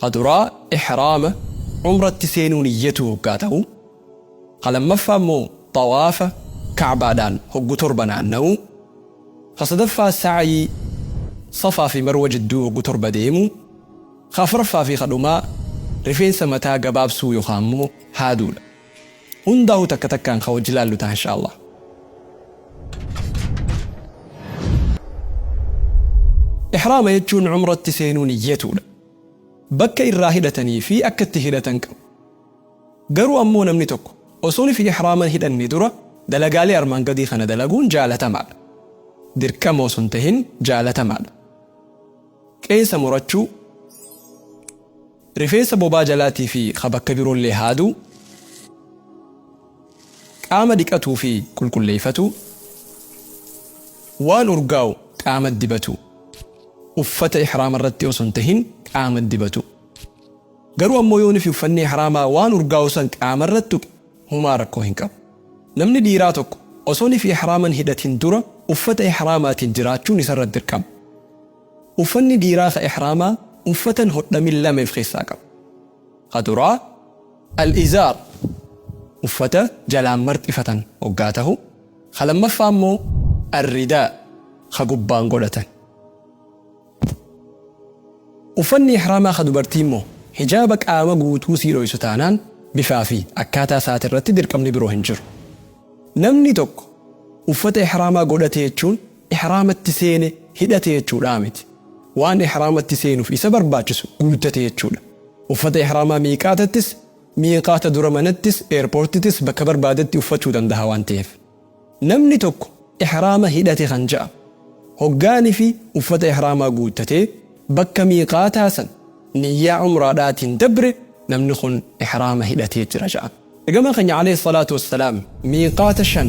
Ka duraa ihraama, umratti seenuu niyyatuu hoggaa tahu, ka lammaffaa immoo xawaafa ka'baadhaan hoggu torba naanna'uu, ka sadaffaa sa'yii safaa fi marwa jidduu hoggu torba deemuu, ka afraffaa fi ka dhumaa rifeensa mataa gabaabsuu yookaa immoo haaduudha. Hundaahu takka takkaan ka wajji laallu taha inshaa Allah. Ihraama jechuun umratti seenuu niyyatuudha. Bakka irraa hidhatanii fi akka itti hidhatan qabu. Garuu ammoo namni tokko osoo fi ihraama hin hidhanne dura dalagaalee armaan gadii kana dalaguun jaalatamaadha. Dirqama osoo hin tahin jaalatamaadha. Qeensa murachuu, Rifeensa bobaa jalaatii fi ka bakka biroollee haaduu, qaama dhiqatuu fi qulqulleeyfatuu, waan urgaawu qaamatti dibatuu, uffata ihraama irratti osoo hin tahin qaamatti dibatuu. Garuu ammoo yoo nifi uffanni ihraamaa waan urgaawu san qaama irratti tuqe humaa rakkoo hin qabu. Namni dhiiraa tokko osoo nifi ihraama hin hidhatin dura uffata ihraamaatiin jiraachuun isarratti dirqama. Uffanni dhiiraa ka ihraamaa uffatan hodhamin lama if keessaa qaba. Ka duraa, Al-izaar, uffata jalaan marxifatan hoggaa tahu, ka lammaffaa immoo Al-ridaa, ka gubbaan godhatan. Uffanni ihraamaa ka dubartii immoo hijaaba qaama guutuu sii dhoysu taanaan bifaa fi akkaataa isaati irratti dirqamni biroo hin jiru. Namni tokko uffata ihraamaa godhate jechuun ihraamatti seene hidhate jechuudhaa miti. Waan ihraamatti seenuuf isa barbaachisu guuttate jechuudha. Uffata ihraamaa miiqaatattis, miiqaata dura manattis, eerpoortitis bakka barbaadetti uffachuu dandaha waan ta'eef. Namni tokko ihraama hidhate kan ja'amu, hoggaanifi uffata ihraamaa guuttatee bakka miiqaataa san niyyaa umraadhaatiin dabre namni kun ihraama hidhatee jira ja'ama. Ergamaan keenya, aleyh salaatu wassalaam, miiqaata shan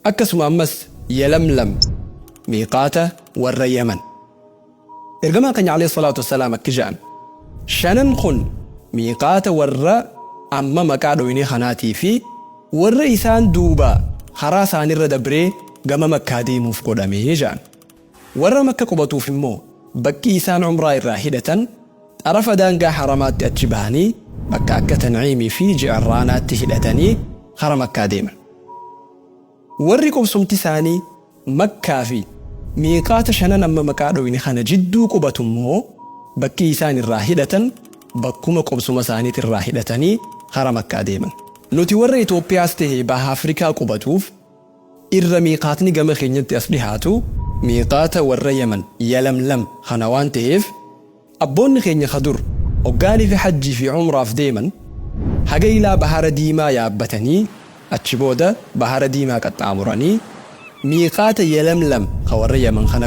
Akkasuma ammas Yalamlam miiqaata warra Yaman. Ergamaan keenya Aleyh salaatu wassalaam akki ja'an, Shanan kun miiqaata warra amma maqaa dhoyne kanaatii fi warra isaan duuba karaa isaanirra dabree gama Makkaa deemuuf godhame ja'an. Warra Makka qubatuuf immoo bakki isaan Umraa irraa hidhatan xarafa daangaa Haramaatti achi bahanii bakka akka Tan'iimii fi Ji'irraanaatti hidhatanii kara Makkaa deeman. Warri qubsumti isaanii Makkaa fi Miiqaata shanan amma maqaa dhooyne kana jidduu qubatu immoo bakki isaan irraa hidhatan bakkuma qubsuma isaaniit irraa hidhatanii kara Makkaa deeman. Nuti warra Itoophiyaas tahe Baha Afrikaa qubatuuf irra miiqaatni gama keenyatti as dhihaatu miiqaata warra yaman, yalamlam, kana waan taheef abboonni keenya ka dur hoggaanifi hajjii fi umraaf deeman haga ilaa bahara diimaa yaabbatanii achi booda bahara diimaa qaxxaamuranii miiqaata yalamlam ka warra yaman kana